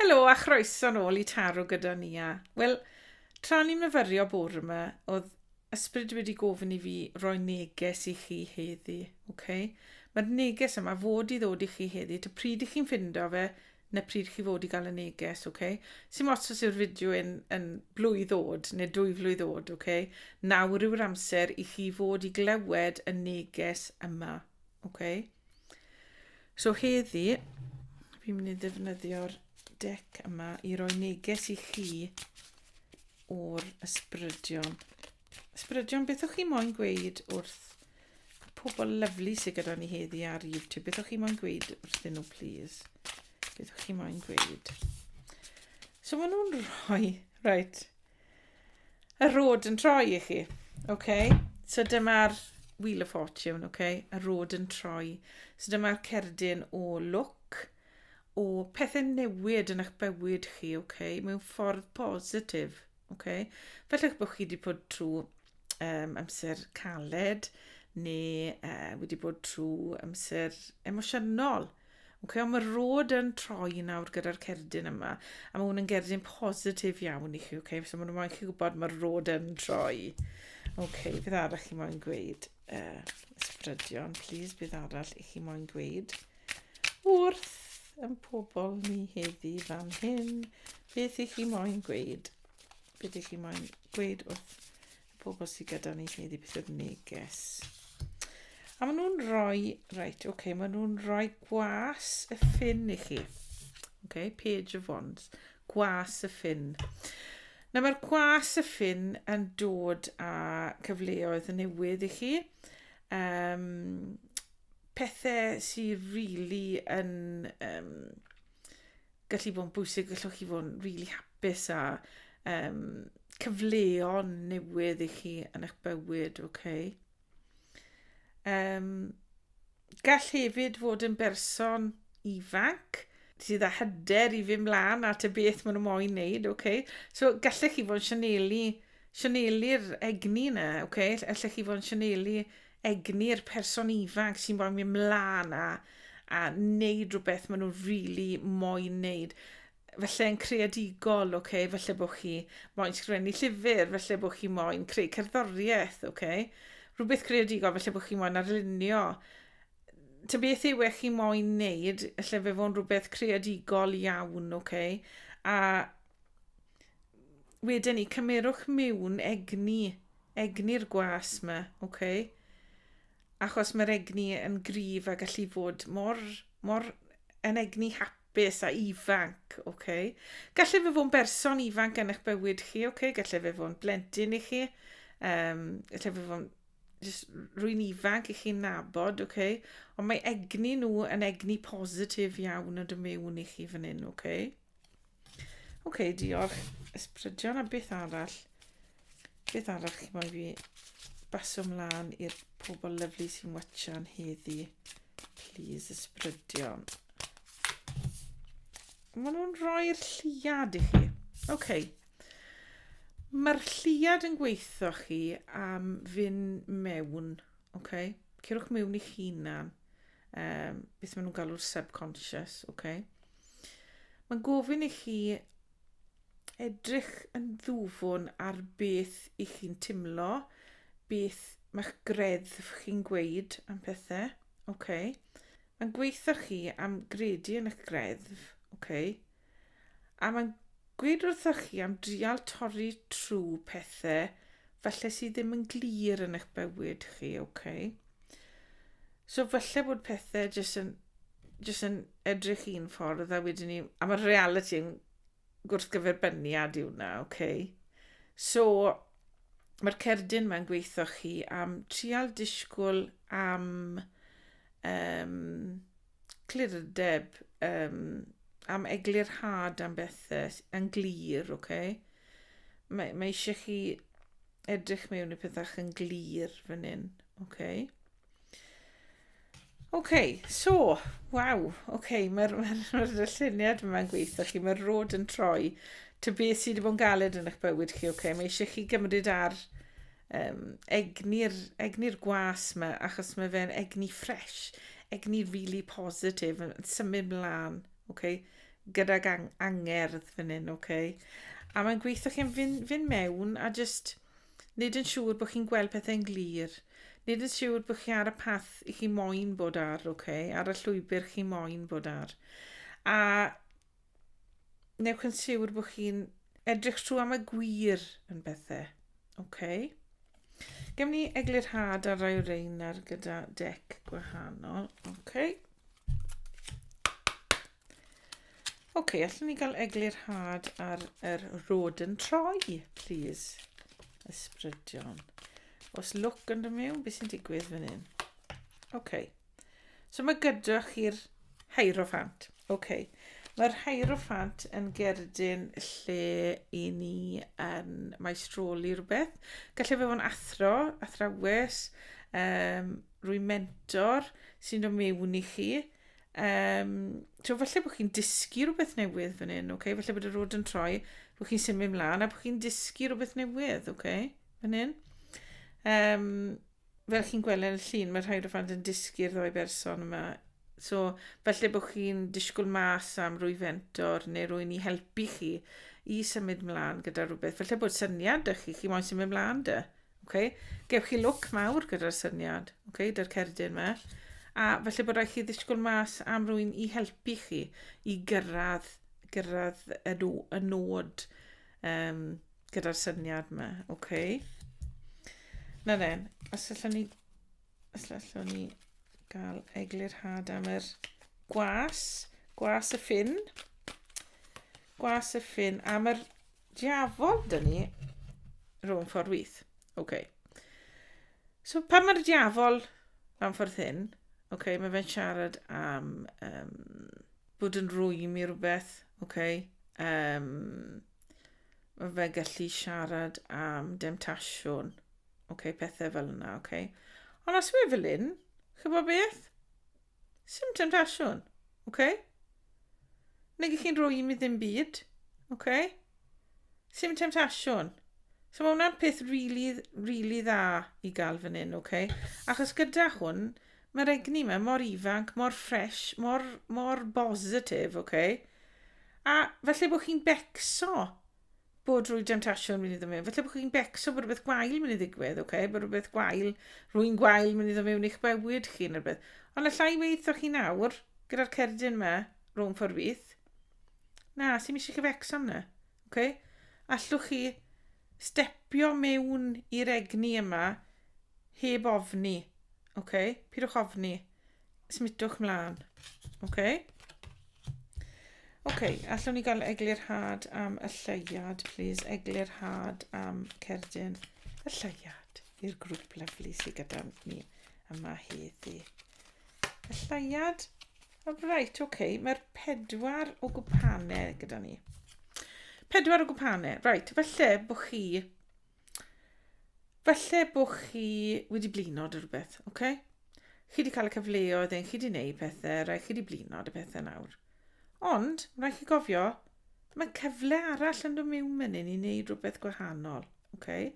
Helo a chroeso nôl i Taro gyda Nia. Wel, tra ni'n myfyrio bore yma, oedd ysbryd wedi gofyn i fi roi neges i chi heddi, oce? Mae'r neges yma fod i ddod i chi heddi, ta pryd i chi'n ffindo fe, na pryd chi fod i gael y neges, oce? Sim ots os yw'r fideo yn, yn blwydd oed neu dwy flwydd oed, oce? Nawr yw'r amser i chi fod i glywed y neges yma. Okay. So heddi, fi'n mynd i ddefnyddio'r dec yma i roi neges i chi o'r ysbrydion. Ysbrydion, beth o'ch chi moyn gweud wrth y pobl lyflu sydd gyda ni heddi ar YouTube? Beth o'ch chi moyn gweud wrth nhw, please? Beth o'ch chi moyn gweud? So maen nhw'n rhoi, right, y rod yn troi i chi. Okay? So dyma'r Wheel of Fortune, okay? y rod yn troi. So dyma'r cerdyn o look, o pethau newid yn eich bywyd chi, okay? mewn ffordd positif. Okay? Felly eich bod chi wedi bod trwy um, amser caled, neu uh, wedi bod trwy amser emosiynol. Okay, ond mae'r rôd yn troi nawr gyda'r cerdyn yma, a mae hwn yn gerdyn positif iawn i chi, okay? so mae'n moyn chi gwybod mae'r rôd yn troi. Okay, beth arall chi moyn gweud? Uh, ysbrydion, please, beth arall i chi moyn gweud? Wrth yn pobl ni heddi fan hyn, beth i chi moyn gweud? Be dych chi moyn gweud wrth y pobl sydd gyda ni heddi beth oedd neges? A maen nhw'n rhoi, reit, oce, okay, maen nhw'n rhoi gwas y ffin i chi. Oce, okay, page of wands, gwas y ffin. Nawr mae'r gwas y ffin yn dod â cyfleoedd newydd i chi. Um, pethau sy'n rili really yn... Um, gallu bod yn bwysig, gallwch chi fod yn rili really hapus a um, cyfleon newydd i chi yn eich bywyd, oce? Okay? Um, gall hefyd fod yn berson ifanc sydd â hyder i fi mlaen at y beth maen nhw moyn wneud, oce? Okay? So gallech chi fod yn sianelu, sianelu'r egni yna, oce? Okay? Allech chi fod yn sianelu egni'r person ifanc sy'n moyn mynd mlaen a, a wneud rhywbeth maen nhw'n rili really moyn wneud. Felly yn creadigol, okay? felly bod chi moyn sgrifennu llyfr, felly bod chi moyn creu cerddoriaeth, okay? rhywbeth creadigol, felly bod chi moyn arlunio. Ta beth yw e chi moyn wneud, felly fe fo'n rhywbeth creadigol iawn, okay? a Wedyn ni, cymerwch miwn egni, egni'r gwas yma, oce? Okay? Achos mae'r egni yn gryf a gallu fod mor, mor yn egni hapus a ifanc, oce? Okay? Gallu fe fod yn berson ifanc yn eich bywyd chi, oce? Okay? Gallu fe fod yn blentyn i chi, um, gallu fe fod yn rwy'n ifanc i chi'n nabod, oce? Okay? Ond mae egni nhw yn egni positif iawn yn dy mewn i chi fan hyn, oce? Okay? Oce, okay, diolch. Ysbrydion a beth arall? Beth arall chi moyn fi basio mlaen i'r pobl lyflu sy'n watchan heddi? Please, ysbrydion. Mae nhw'n rhoi'r lliad i chi. Oce. Okay. Mae'r lliad yn gweithio chi am fyn mewn. Oce. Okay. Cerwch mewn i'ch hunan. um, beth maen nhw'n galw'r subconscious, oce? Okay? Mae'n gofyn i chi edrych yn ddwfwn ar beth i chi'n timlo, beth mae'ch greddf chi'n gweud am pethau, oce? Okay? Mae'n gweithio chi am gredu yn eich greddf, oce? Okay? A mae'n gweud wrthoch chi am drial torri trw pethe falle sydd ddim yn glir yn eich bywyd chi, ok? So falle bod pethe jyst yn, jyst yn edrych un ffordd a wedyn ni... A mae'r reality yn gwrthgyferbyniad i hwnna, ok? So, mae'r cerdyn mae'n gweithio chi am trial disgwyl am... Um, clirdeb, um, am eglurhad am bethau yn glir, oce? Okay? Mae, mae eisiau chi edrych mewn i pethau yn glir fan hyn, oce? Okay? Oce, okay, so, waw, oce, okay, mae'r ma ma lluniad yma'n gweithio chi, mae'r rod yn troi. Ty beth sydd wedi bod yn galed yn eich bywyd chi, oce? Okay? Mae eisiau chi gymryd ar um, egni'r egni gwas yma, achos mae fe'n egni ffres, egni really positif, yn symud mlaen, okay? gydag ang angerdd fan hyn, okay? a mae'n gweithio chi'n fynd, fynd mewn a just nid yn siŵr bod chi'n gweld pethau'n glir, nid yn siŵr bod chi ar y path i chi moyn bod ar, okay? ar y llwybr chi moyn bod ar. A Wnewch yn siwr bod chi'n edrych trwy am y gwir yn bethau. OK. Gem ni eglurhad ar rai o rein ar gyda dec gwahanol. OK. OK, allwn ni gael eglurhad ar yr rod yn troi, please. Ysbrydion. Os look yn dod mewn, beth sy'n digwydd fan hyn? OK. So mae gyda chi'r Hierophant. OK. Mae'r Hierophant yn gerdyn lle i ni yn maestroli rhywbeth. Gallai fe fod yn athro, athrawes, um, rwy'n mentor sy'n dod mewn i chi. Um, so falle bod chi'n dysgu rhywbeth newydd fan hyn, okay? falle bod y rod yn troi, bod chi'n symud mlaen a bod chi'n dysgu rhywbeth newydd, okay? fan hyn. Um, fel chi'n gweld yn y llun, mae rhai rhyfant yn dysgu'r ddoi berson yma. So, felly bod chi'n disgwyl mas am rwy fentor neu rwy'n i helpu chi i symud mlaen gyda rhywbeth. Felly bod syniad dy chi, chi moyn symud mlaen dy. Okay? Gewch chi lwc mawr gyda'r syniad, okay, dy'r cerdyn yma. A felly bod rhaid chi ddisgwyl mas am rwy'n i helpu chi i gyrraedd, gyrraedd y, y nod um, gyda'r syniad yma, oce? Okay. Na dde, os allwn ni... Os allwn ni gael eglurhad am yr gwas, gwas y ffin. Gwas y ffin, am yr diafol dyn ni, rhwng ffordd wyth. Oce. Okay. So pan mae'r diafol am ffordd hyn, oce, okay, mae fe'n siarad am um, bod yn rwy'n i rhywbeth, oce. Okay. Um, Mae fe gallu siarad am demtasiwn. Okay, pethau fel yna, okay. Ond os mae fel un, chybod beth? Sim temtasiwn, okay? Nid chi'n rhoi i mi ddim byd, okay? Sim temtasiwn. So mae hwnna'n peth really, really dda i gael fan hyn, okay? Achos gyda hwn, Mae'r egni ma mor ifanc, mor ffres, mor, mor bositif, ok? A falle bod chi'n becso bod rwy demtasiwn mynd i ddod mewn. Falle bod chi'n becso bod rhywbeth gwael mynd i ddigwydd, ok? Bod rhywbeth gwael, rwy'n gwael mynd i ddod mewn i'ch bywyd chi neu rhywbeth. Ond y llai weithio chi nawr, gyda'r cerdyn yma, rhwng ffordd fyth. Na, sy'n eisiau chi fecso am na, ok? Allwch chi stepio mewn i'r egni yma heb ofni. OK? Pidwch ofni. Smutwch mlaen. OK? OK, allwn ni gael eglurhad am y lleiad, please. Eglurhad am cerdyn y lleiad i'r grŵp lyflu sydd gyda ni yma heddi. Y lleiad Oh, right, ok. Mae'r pedwar o gwpanau gyda ni. Pedwar o gwpanau. Right, falle bod chi... Falle bod chi wedi blino dy rhywbeth, ok? Chi wedi cael y cyfleoedd ein, chi wedi gwneud pethau, rhaid chi wedi blino dy pethau nawr. Ond, rhaid chi gofio, Mae cyfle arall yn dod mewn fan hyn i wneud rhywbeth gwahanol. Okay?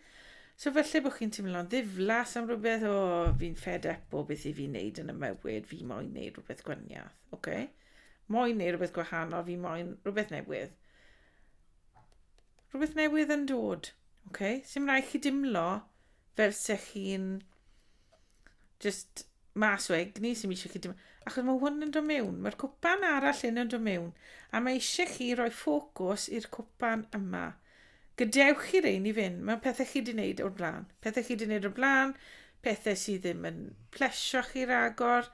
So felly bod chi'n teimlo'n ddiflas am rhywbeth, o, oh, fi'n fed up o beth i fi'n neud yn y mywyd, fi moyn neud rhywbeth gwaniath. Okay? Moyn neud rhywbeth gwahanol, fi moyn rhywbeth newydd. Rhywbeth newydd yn dod. Okay? Sym rhaid chi dimlo fel se chi'n just mas o egni sy'n eisiau chi dim... Achos mae hwn yn dod mewn, mae'r cwpan arall yn dod mewn, a mae eisiau chi roi ffocws i'r cwpan yma. Gadewch chi rein i fynd, mae pethau chi wedi gwneud o'r blaen. Pethau chi wedi gwneud o'r blaen, pethau sydd ddim yn plesio chi ragor,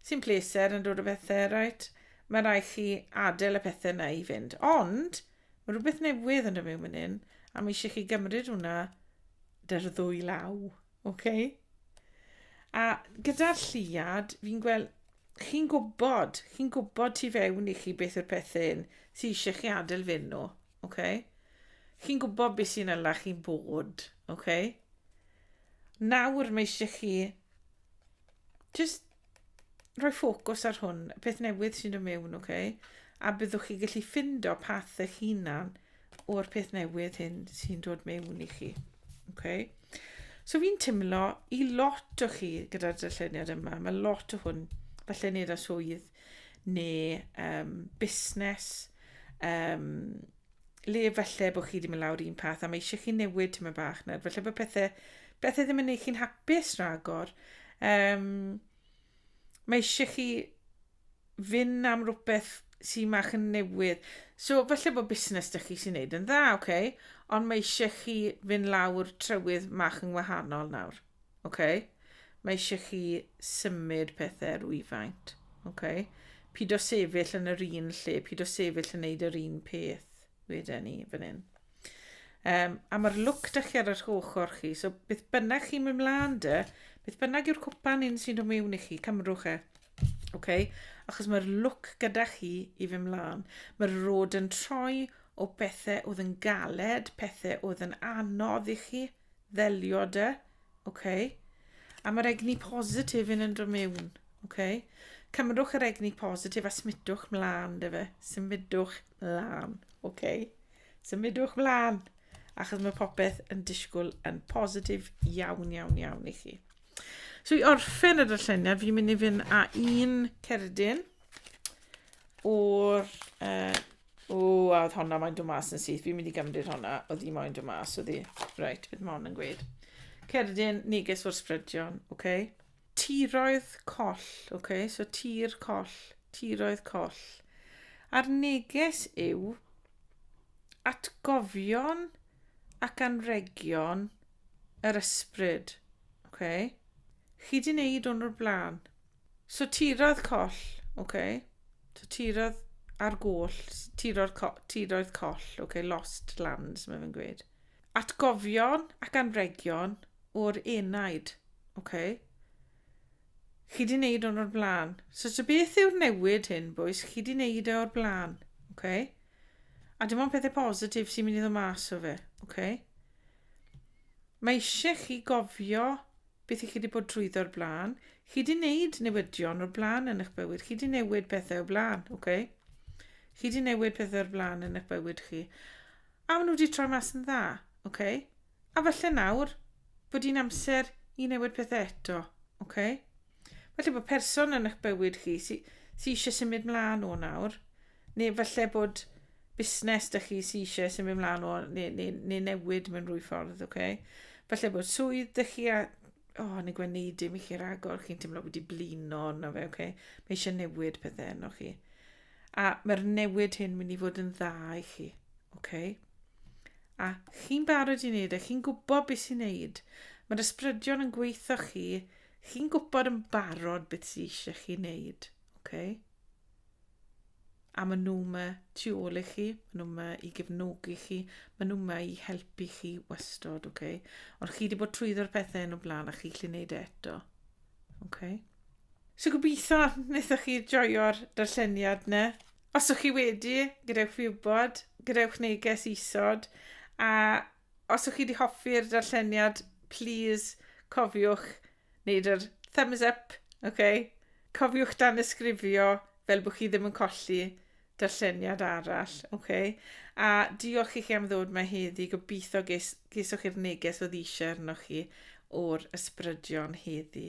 sy'n pleser yn dod o bethau, right? Mae rai chi adael y pethau yna i fynd. Ond, mae rhywbeth newydd yn dod mewn fan hyn, a mae eisiau chi gymryd hwnna dy'r ddwy law. Ok. A gyda'r lliad, fi'n gweld, chi'n gwybod, chi'n gwybod tu fewn i chi beth yw'r pethau hyn sy'n eisiau chi adael fy nhw. Ok. Chi'n gwybod beth sy'n yna chi'n bod. Ok. Nawr mae eisiau chi just rhoi ffocws ar hwn, peth newydd sy'n dod mewn, oce? Okay? A byddwch chi gallu ffindo path eich hunan o'r peth newydd hyn sy'n dod mewn i chi. Okay? So fi'n timlo i lot o chi gyda'r darlleniad yma, mae lot o hwn falle nid a swydd neu um, busnes, um, le falle bod chi wedi mynd lawr un path a mae eisiau chi newid tyma bach nawr. Falle bod pethau, pethau ddim yn gwneud chi'n hapus rhagor. Um, mae eisiau chi fynd am rhywbeth sy'n mach yn newydd. So, falle bod busnes da chi sy'n neud yn dda, oce? Okay? Ond mae eisiau chi fynd lawr trywydd mach yn wahanol nawr. Ok? Mae eisiau chi symud pethau rwyfaint. Ok? Pyd o sefyll yn yr un lle, pyd o sefyll yn neud yr un peth wedyn ni fan hyn. Um, a mae'r look da chi ar yr ochr chi, so beth bynnag chi'n mynd mlaen dy, beth bynnag yw'r cwpan un sy'n dod mewn i chi, cymrwch e. Okay? Achos mae'r look gyda chi i fy mlaen. Mae'r rod yn troi o bethau oedd yn galed, pethau oedd yn anodd i chi, Ddelio de. OK. A mae'r egni positif yn yn dod mewn. OK. Cymrwch yr egni positif a smidwch mlaen de fe. Symudwch mlaen. OK. Symudwch mlaen. Achos mae popeth yn disgwyl yn positif iawn, iawn, iawn i chi. So i orffen y darlleniad, fi'n mynd i fynd â un cerdyn o'r uh, O, a oedd honna moyn dod mas yn syth. Fi'n mynd i gymryd honna. Oedd hi moyn dod mas, oedd hi. Reit, beth mae hon yn gweud? Cerdyn, neges o'r sbrydion, oce? Okay? Tiroedd coll, oce? Okay? So tir coll, tiroedd coll. A'r neges yw atgofion ac anregion yr ysbryd, oce? Okay? Chi di wneud hwn o'r blaen. So tirodd coll, oce. So tirodd ar goll, tiro'r co tiroedd coll, oce, lost lands, mae fe'n gweud. Atgofion ac anregion o'r enaid, oce. Chi wedi wneud hwn o'r blaen. So so beth yw'r newid hyn, bwys? Chi wedi wneud e o'r blaen, oce. A dim ond pethau positif sy'n mynd i ddod mas o fe, oce. Mae eisiau chi gofio beth i chi wedi bod drwyddo o'r blaen. Chi wedi wneud newidion o'r blaen yn eich bywyd. Chi wedi newid pethau o'r blaen, oce? Okay? Chi wedi newid pethau o'r blaen yn eich bywyd chi. A maen nhw wedi troi mas yn dda, oce? Okay? A falle nawr bod hi'n amser i newid pethau eto, oce? Okay? Falle bod person yn eich bywyd chi sy'n sy eisiau symud mlaen o nawr, Neu falle bod busnes da chi sy'n eisiau sy'n mynd mlaen o, neu, neu, neu newid mewn rwy ffordd, oce? Okay? Falle bod swydd da chi a, o, oh, yn y gwneud dim i chi ragor, chi'n teimlo wedi blino arno fe, oce? Okay? Mae eisiau newid pethau yno chi. A mae'r newid hyn mynd i fod yn dda i chi, oce? Okay? A chi'n barod i wneud e, chi'n gwybod beth sy'n wneud. Mae'r ysbrydion yn gweithio chi, chi'n gwybod yn barod beth sy'n eisiau chi wneud, oce? Okay? A maen nhw yma tu ôl i chi, maen nhw yma i gefnogi chi, maen nhw yma i helpu chi wastod, oce? Okay? Ond chi wedi bod trwyddo'r pethau yn y blaen a chi lle wneud e eto, oce? Okay? So gobeithio wnaethoch chi joio'r darlleniad yna. Os ydych chi wedi, gadewch fi wybod, gadewch neges isod, a Os ych chi wedi hoffi'r darlleniad, plîs cofiwch wneud yr thumbs up, ok? Cofiwch danysgrifio fel bod chi ddim yn colli darlleniad arall, ok? A diolch i chi am ddod mae heddi, gobeithio ges, gesoch chi'r neges oedd eisiau arnoch chi o'r ysbrydion heddi.